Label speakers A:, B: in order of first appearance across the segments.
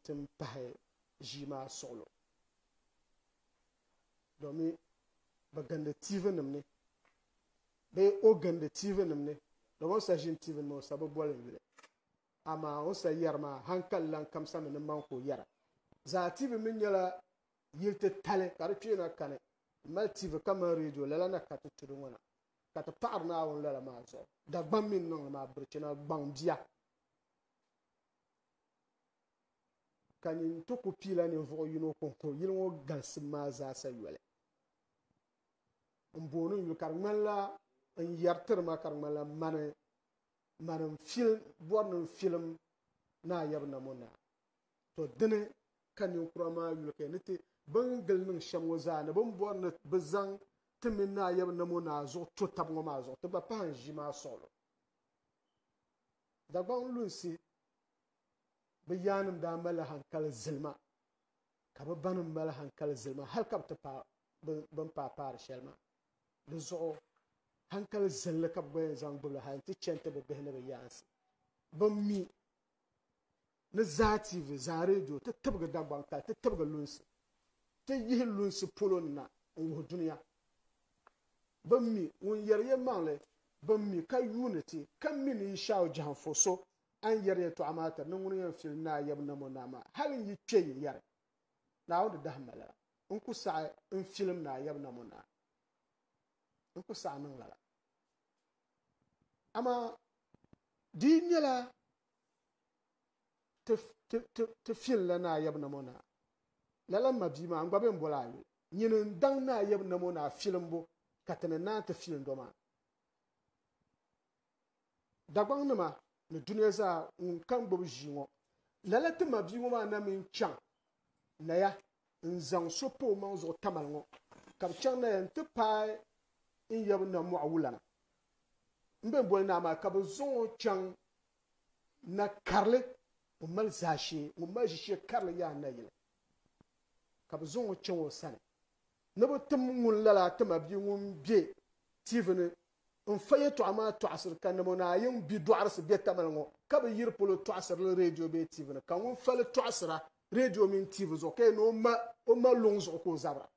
A: ti ni pahi ʒii maa suɣilo domi bɛ gindi tiivinim ni bee o gindi tiivinim ni domi o ni sa ʒini tiivinim ni o sa bi boli n-yuli amaa o ni sa yɛri maa hankali lan kamsami ni maŋ ka o yɛra zaatiivi mi nyɛla yili titali ka di kpeena kani m-mali tiivi ka mali redio lala na ka ti tu di ŋɔ na ka ti paɣiri Naawuni lala maa zuɣu Dagbaŋ mi ni niŋdi maa birichina gbaŋ bia ka nyin n ti ku piila ninvuɣ yino kɔŋko yili ŋɔ galisim maa zaasa yoli. N booni n yuli ka di ŋmanila n yɛritiri ma ka di ŋmanila mani mani n fil bɔri ni n filim naa yɛbu na mo naa. To dini ka ninkura maa yuli ka ni ti bin gili niŋ shɛm ŋɔ zaa ni bin bɔri ni bi zaŋ ti mini naa yɛbu na mo naa zuɣu to tab ŋɔ maa zuɣu ti gba pahi n ʒi maa suɣilo. Dagbaŋ lunsi bɛ yaannim daa malila hankali zilima, ka bɛ banim mali hankali zilima hal ka bɛ ti paai bɛ ni paai paari shɛli maa. Di zuɣu hankali zilli ka bɛ gba yɛn zaŋ gbibi li hal nti chani ti bɛ bihi ni bɛ yaansi bɛn mi Ni Zaa TV, Zaa Radio ti tibigi Dagbaŋ kali ti tibigi lunsi ti yihi lunsi polo ni na n-wuhi dunia. Bɛ mi ŋun yɛri yɛlimaŋli bɛ mi ka yuuni ti, ka mi ni yi Shaw Jahanfo so a ni yɛri yɛtɔɣa maa tiri ni ŋuni yɛn fili Naa Yab Namo Naa maa. Hali n yi kpe yi yɛri Naawuni di dahi malila n ku saɣi n filim Naa Yab Namo Naa. N ku saɣi niŋ lala. Amaa di yi nyɛla ti fil la naa yab nam o naa. Lala m ma bia maa, n gba bɛn bol a yuli. Nyini n daŋ naa yab nam o naa filimbu ka ti ni naan ti fil n dɔ maa. Dagbaŋ nima ni dunia zaa ŋun kan gbib ʒii ŋɔ, lala ti ma bia ŋɔ maa na mi n chaŋ Naya, n zaŋ so pa o maŋ zuɣu Tamal ŋɔ, ka bɛ chaŋ Naya nti paai n yab na mɔɣu wulana m-bɛn boli Naa maa, ka bɛ zaŋ o chaŋ na karili o mali zaashee ŋun mali ʒishee karili yaai nayili, ka bɛ zaŋ o chaŋ o sani ni bɛ tim ŋun lala ti mabia ŋun be tiivi ni N fa yɛtɔɣa maa tɔɣisiri ka namo ni a yiŋ bi dɔɣirisi bɛ tamali ŋɔ ka bi yiri polo tɔɣisiri li reediyo bee tiivi ni, ka ŋun fa li tɔɣisira reediyo mini tiivi zuɣu ka yɛn ni o ma luŋ zuɣu ka o zabira.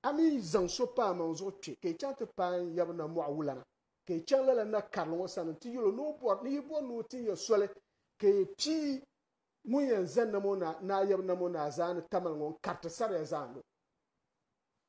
A: A mi yi zaŋ so pa amaŋ zuɣu kpe ka yi chaŋ ti paai n yaba na mɔɣu wulana, ka yi chaŋ lala na karili ŋɔ sani nti yɛl o ni o bɔri, ni yi bɔri ni o tin ya soli ka yi pii ŋun yɛn za namo ni a yaba namo ni a zaani tamali ŋɔ n-kariti saria zaani o.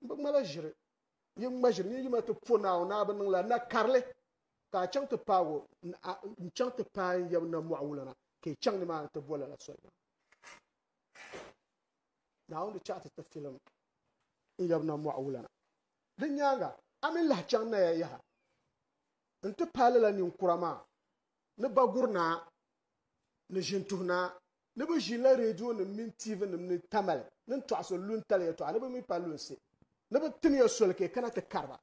A: N bi ŋmala ʒiri, yi ŋma ʒiri ni yi ma ti po Naawuni a bi niŋla na karili ka a chaŋ ti paag o, n chaŋ ti paai n yaba na mɔɣu wulana ka yi chaŋ nimaani ti boli lala soli maa. Naawuni di chaɣ ti ti filim n yaba na mɔɣu wulana. Di nyaaŋa a mi lahi chaŋ naya yaha n ti paai lala ninkura maa ni ba guri naa ni ʒin tuhi naa. Ni bɛ ʒinla reedionim mini tiivinim ni tamali ni n tɔɣisi luntali yɛtɔɣa ni bɛ mi pa lunsi ni bɛ tim ya soli ka yi kana ti kari ba.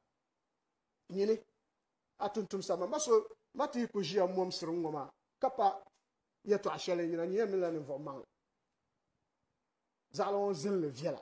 A: Nyini, a tuntumsa ma, ma so, ma ti yi ku ʒiya m-mɔmsiri n ŋɔ maa ka pa yɛtɔɣa shɛli n yina nyɛ ya minila ninvuɣ maŋli. Zaɣili ŋɔ zilli viɛla.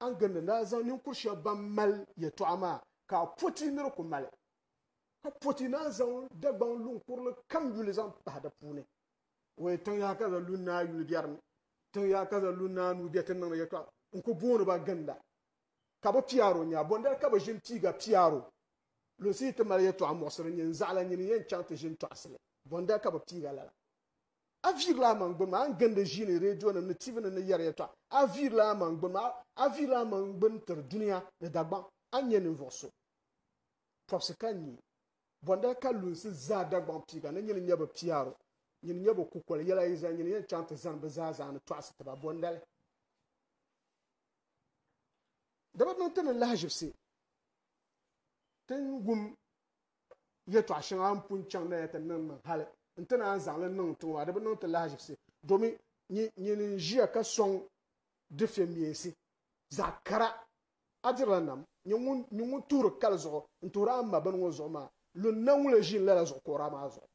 A: a ni gindi ni a zaŋ ninkur shɛba ban mali yɛtɔɣa maa ka a poti ni di ku mali, ka poti ni a zaŋ Dagbaŋ luŋ kurili kam yuli zaŋ pahi di puuni. Wee tiŋ yaha ka za lu ni a yuli biɛri ni, tiŋ yaha ka za lu ni a nuu biɛ ti niŋdi yɛtɔɣa. N ku booni ba ginda, ka bɛ piyaar o nya. Bɔndali ka bɛ ʒini piiga piyaar o? Lunsi yi ti mali yɛtɔɣa muɣisiri nyin zaɣila nyini yɛn chaŋ ti ʒini tɔɣisili? Bɔndali ka bɛ piiga lala? A viirila a maŋ gbini maa n gindi ʒiini, reedionim ni TV nim ni yɛri yɛltɔɣa. A viirila a maŋ gbini maa, a viirila a maŋ gbini tiri dunia ni Dagbaŋ. A nyɛ ninvuɣ so. Tɔbisi ka n nya. Bɔndali ka lunsi zaa Dagbaŋ piiga ni nyini nyɛ bɛ piaro, nyini nyɛ bɛ kukoli yɛla yi zali, nyini yɛn chaŋ ti zani bɛ zaa zaani tɔɣisi ti ba. Bɔndali. Di bi niŋ ti ni lahiʒibisi ti wum yɛtɔɣ shɛŋa n pun chaŋ na ya ti niŋ niŋ hali nti naan zaŋ li niŋ tiŋ maa, di bi niŋ ti lahazibisi domin nyin n-ʒiya ka sɔŋ difiɛmiɛnsi zaɣ kara. A dirila nam, nyin ŋun tuhiri kali zuɣu n-tuhiri a mma bini ŋɔ zuɣu maa, lunna ŋun lee ʒiin lala zuɣukɔra maa zuɣu.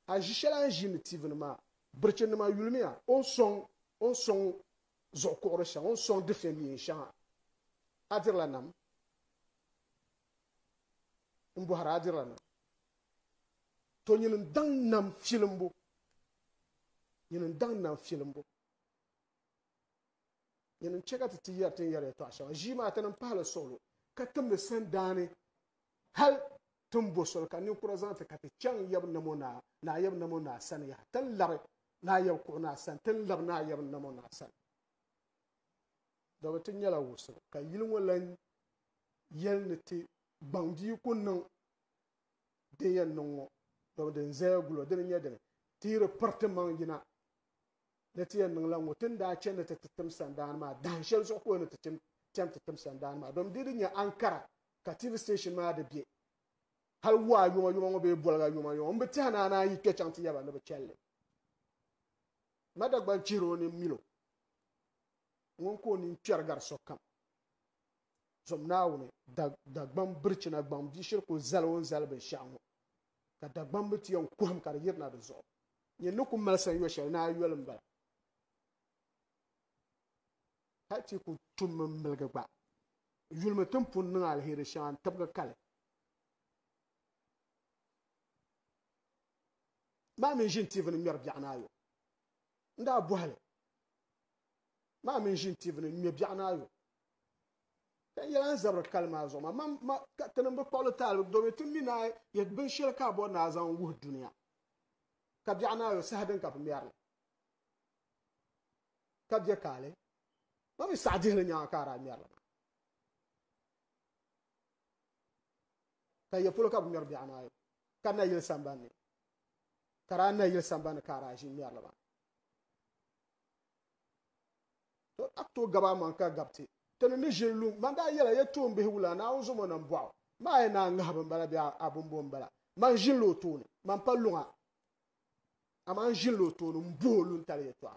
A: A ʒi shɛl a ni ʒiindi tiivini maa, birichinnima yulimiya, o ni sɔŋ o ni sɔŋ zuɣukuɣiri shɛŋa, o ni sɔŋ difiɛmiɛn shɛŋa. A dirila nam. n bɔhiri a dirila nam. To nyin n-daŋ nam filimbu, nyin n-daŋ nam filimbu. Nyin n-chɛ ka ti ti yɛri tin yɛri yɛtɔɣ shɛŋa. Ʒii maa ti niŋ pahili suɣulo, ka timdi sandaani hal ti ni bo soli ka ninkura zaŋ ti ka ti chaŋ Yab Namo Naa, Naa Yab Namo Naa sani yaha. Ti ni labi Naa Yab Kuɣu Naa sani, ti ni labi Naa Yab Namo Naa sani. Dɔbi ti nyɛla wusili, ka yili ŋɔ lan yɛli ni ti gbaŋ bia o ku niŋ din yɛn niŋ ŋɔ, dama din zaya gul o dini nyɛ dini, ti yi di piriti maŋ yina ni ti yɛn niŋ la ŋɔ, ti ni daa chani ni ti ti tim sandaani maa, dahin shɛli zuɣu ka o ni ti chani ti tim sandaani maa, dama di di nyɛ Ankara ka TV station maa di be, hali waa yuma yuma ŋɔ bee boliga yuma yuma m bi tɛhi ni a naan yi kpe chaŋ ti yaba ni bɛ chɛli li. Madagban chihir o ni mil o, ŋun ka o nini kpɛri gari sokam. Zom Naawuni, Dagbaŋ birichina gbaŋ bia shiri kul zali o ni zali binshɛɣu ŋɔ, ka Dagbaŋ bi ti yɛn kuhim ka di yirina di zuɣu. Nyin ni ku mali san yo shɛli ni a yoli m-bala. Hal ti ku tummi m-miligi gba, yulimi ti ni pun niŋ aliheri shɛŋa n-tibigi kali. Maa mi ʒin TV ni ŋmɛri biɛɣu ni a yo. N daa bɔhi li, Maa mi ʒin TV ni ŋmɛ biɛɣu ni a yo? Ka yɛla n zabiri kali maa zuɣu ma mam ma ka ti nimbi kpuɣili taalibi domi ti mi naa yɛ binshɛli ka a bɔri naa zaŋ wuhi duniya ka biɛɣu naa yo saha din ka bi mɛrili ka bɛ kaali ma mi saɣa dihili nyaŋa ka a daa mɛrili maa ka yɛ polo ka bi mɛri biɛɣu naa yo ka na yili sambanni ka daa na yili sambanni ka a daa ʒi mɛrili maa to a to gaba man ka gabti tini ni ʒiri lu man daa yɛla yɛ toon bihi wula naawun zomo nam bɔɣu maa yɛ naa ŋahi bin bala bɛ a bin bɔ n bala man ʒinla o tooni man pa luŋa a man ʒinla o tooni n buhi o lu n tali yɛ tɔɣa